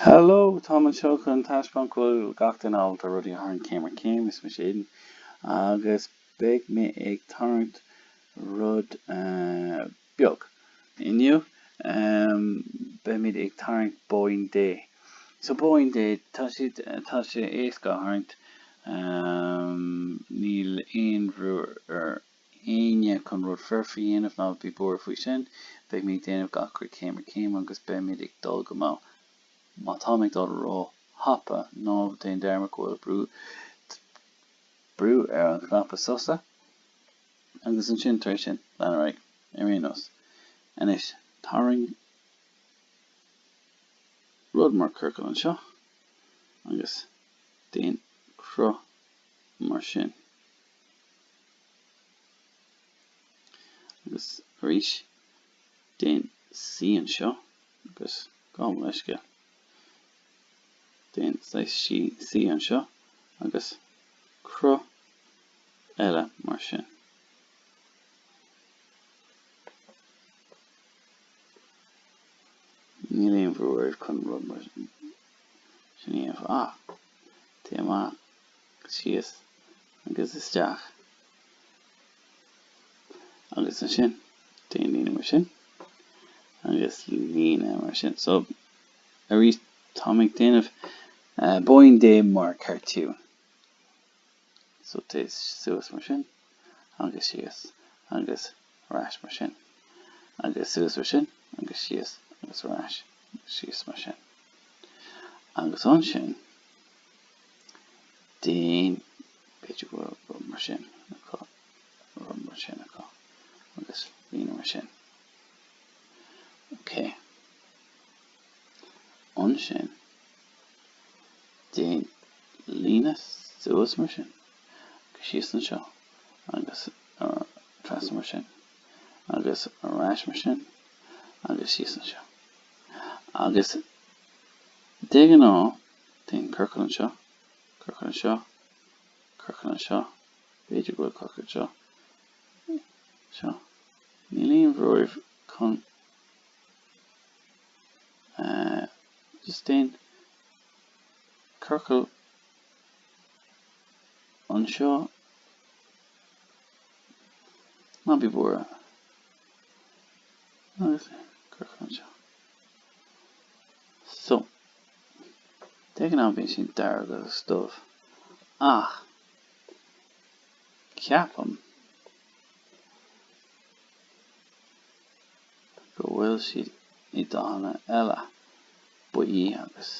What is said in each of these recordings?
Hello, táim anseo chun taispeáint go bhfuil gach duine ábalta rudaí a tharraingt céim ar chéim. Is mise Aidan agus beidh mé ag tarraingt rud beag. Inniu, beimid ag tarraingt Bóín Dé. So Bóín Dé, tá siad, tá sé éasca a tharraingt. Níl aon bhrú ar éinne chun rud foirfe a dhéanamh, ná bí buartha faoi sin. Beidh mé ag déanamh gach rud céim ar chéim agus beimid ag dul go mall. Má táim ag dul ró-thapa, ná déan dearmad go bhfuil brú ar an chnaipe sosa. Agus ansin, tar éis sin, lean ar aghaidh. Ar aon nós. Anois, tarraing rud mar ciorcal anseo agus déan cruth mar sin. Agus arís, déan C anseo agus gabh mo leithscéal. Déan C anseo agus cruth eile mar sin. Níl aon bhrú oraibh chun rud mar sin a dhéanamh ach téigh amach. síos agus isteach agus ansin déan líne mar sin agus líne mar sin so arís táim ag déanamh bóín dé mar cartiún so téigh suas mar sin agus síos agus ar ais mar sin, agus suas mar sin agus síos agus ar ais agus síos mar sin. Agus ansin déan, b'fhéidir go bhfuil rud mar sin acu, rud mar sin acu, agus líne mar sin. OK. Ansin déan líne suas mar sin. síos anseo agus trasna mar sin agus ar ais mar sin agus síos anseo. Agus de ghnáth déan ciorcal anseo, ciorcal anseo, ciorcal anseo, b'fhéidir go bhfuil ciorcal anseo, seo. Níl aon bhrú oraibh chun just déan ciorcal anseo ná bí buartha agus cuirfear anseo so de ghnáth bíonn siad dearg agus dubh ach ceapaim go bhfuil siad i ndathanna eile, buí agus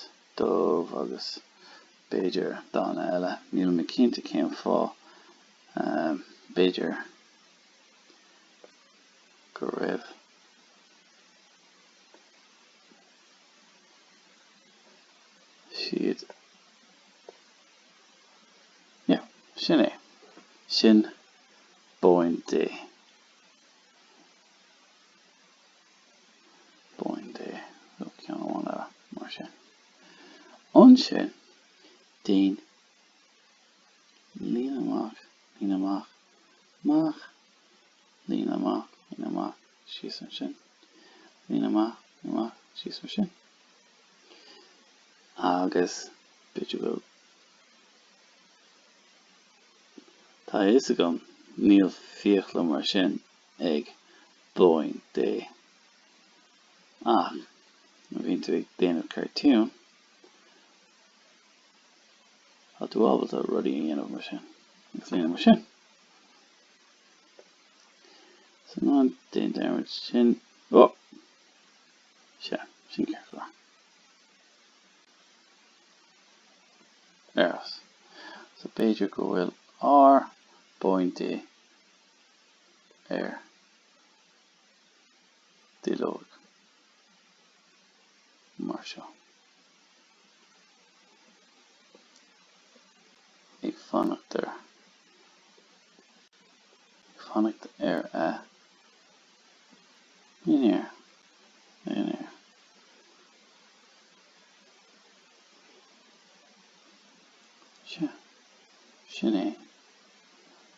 dubh agus b'fhéidir dathanna eile, níl mé cinnte cén fáth, b'fhéidir go raibh siad, yeah, sin é, sin bóín Dé. pointe nó ceann amháin eile mar sin. Ansin déan líne amach, líne amach, amach, líne amach, líne amach, síos ansin, líne amach, líne amach, síos mar sin. Agus b'fhéidir go bhfuil. Tá a fhios agam níl fiacla mar sin ag bóín Dé ach má bhíonn tú ag déanamh cartoon tá tú ábalta rudaí a dhéanamh mar sin agus lena mar sin so ná déan dearmad sin ó sea sin ceart go leor ar fhás so b'fhéidir go bhfuil ár bóín Dé ar duilleog mar seo ag fanacht ar ag fanacht ar a dhinnéar dhinnéar sin é.